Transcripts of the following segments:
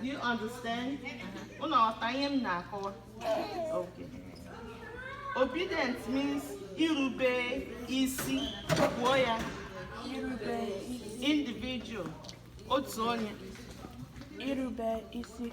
Do you understand? Unu aghọta ihe m na-akọwa? Okay. Obedient means irube isi. Kwuo ya. Individual. Otu onye. Irube isi.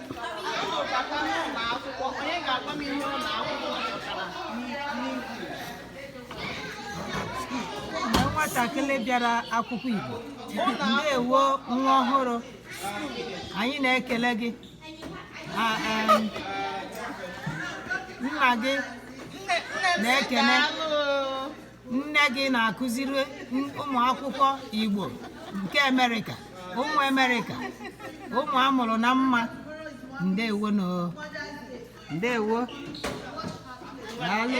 nwatakịrị bịara akwụkwọ Igbo ndewo nwa ọhụrụ anyị na-ekele gị nna gị na-ekele nne gị na-akụziri ụmụ akwụkwọ Igbo nke Amerịka ụmụ Amerịka ụmụ a mụrụ na mma ndewo nụ ndewo daalụ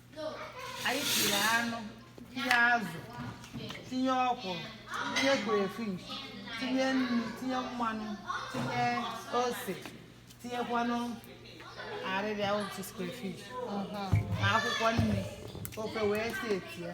anyị tinye anụ tinye azụ tinye ọkwụrụ tinye crayfish tinye nnu tinye mmanụ tinye ose tinyekwanụ arịrịa otu crayfish na akwụkwọ nri ofe wee si eti ya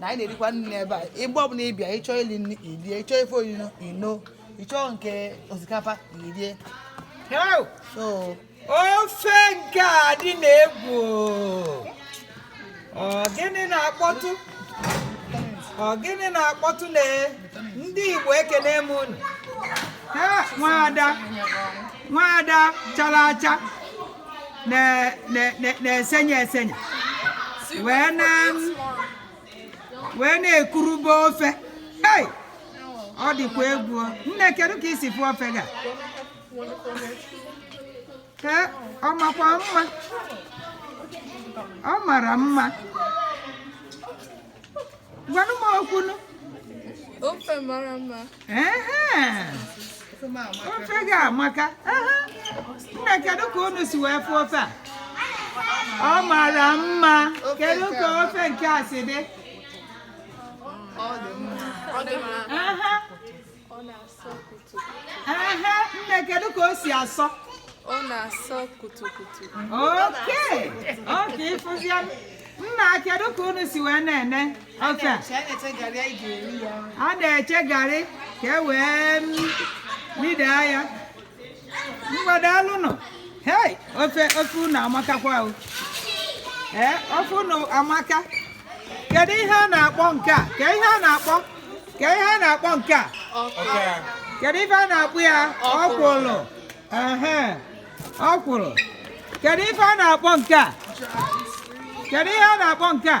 na anyị na-erikwa nri n'ebe a mgbe ọbụla ị bịa ị chọọ ili nri i lie ị chọọ ife onuno i noo ị chọọ nke osikapa i lie so ofe nke a dị nnọọ egwu ọ gịnị na-akpọtụ ọ gịnị na-akpọtụ na ndị Igbo ekene m unu Ee, nwaada nwaada chara acha na- na- na- na-esenye esenye wee na wee na-ekurube ofe Hey! ọ dịkwa egwu o. nne kedu ka i si fụ ofe gị a ee ọ makwa mma ọ mara mma gwanụ m okwu nụ ofe mara mma ofe gị amaka nna kedu ka unu si wee fụ ofe a ọ mara mma kedu ka ofe nke a si dị ọ dị mma aha nne kedu ka o si asọ ọ na-asọ kutukutu okay okay ị fụzia nna kedu ka unu si wee na-ene ofe a a na-eche garị ka e wee m- midaa ya mgbede daalụnụ hei ofe ofe unu amakakwa o ee ofe unu amaka kedu ihe a na-akpọ nke a ka ihe a na-akpọ ka ihe a na-akpọ nke a kedu ife a na-akpọ ya ọkwụrụ ehe ọkwụrụ kedu ife a na-akpọ nke a kedu ihe a na-akpọ nke a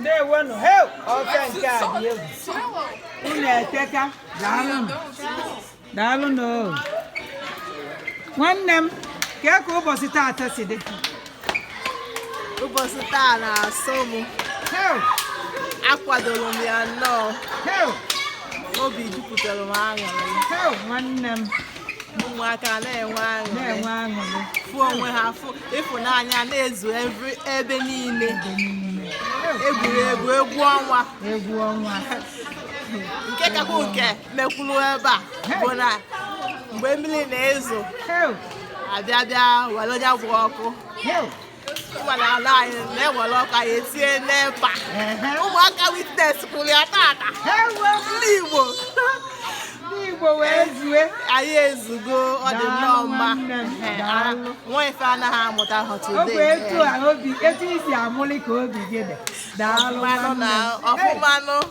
ndewonu he ọka nke a dị egwu unu eteka daalụnụ daalụnụ nwanne m kee ka ụbọsị taata si dị ụbọsị taa na-asọ m akwadoro m ya nnọọ obi jupụtara m aṅụrị nwanne m ụmụaka na-enwe aṅụrị fụ onwe ha fụ ịfụnanya na-ezu ebe niile egwuregwu egwu ọnwa egwu ọnwa nke kakwa nke mekwuru ebe ọ bụ na mgbe mmili na-ezo abịa bịa were onye bụ ọkụ ụgbọala ala anyị na-ewere ọkụ anyị etinye n'epa ụmụaka witness kwụrụ ya tata ndị Igbo Igbo wee zue anyị ezugo ọ dị nnọọ mma nwa ife anaghị amụta ha today ọ bụ etu a obi etu i si aṅụlị ka obi gị dị daalụ na ọfụmanụ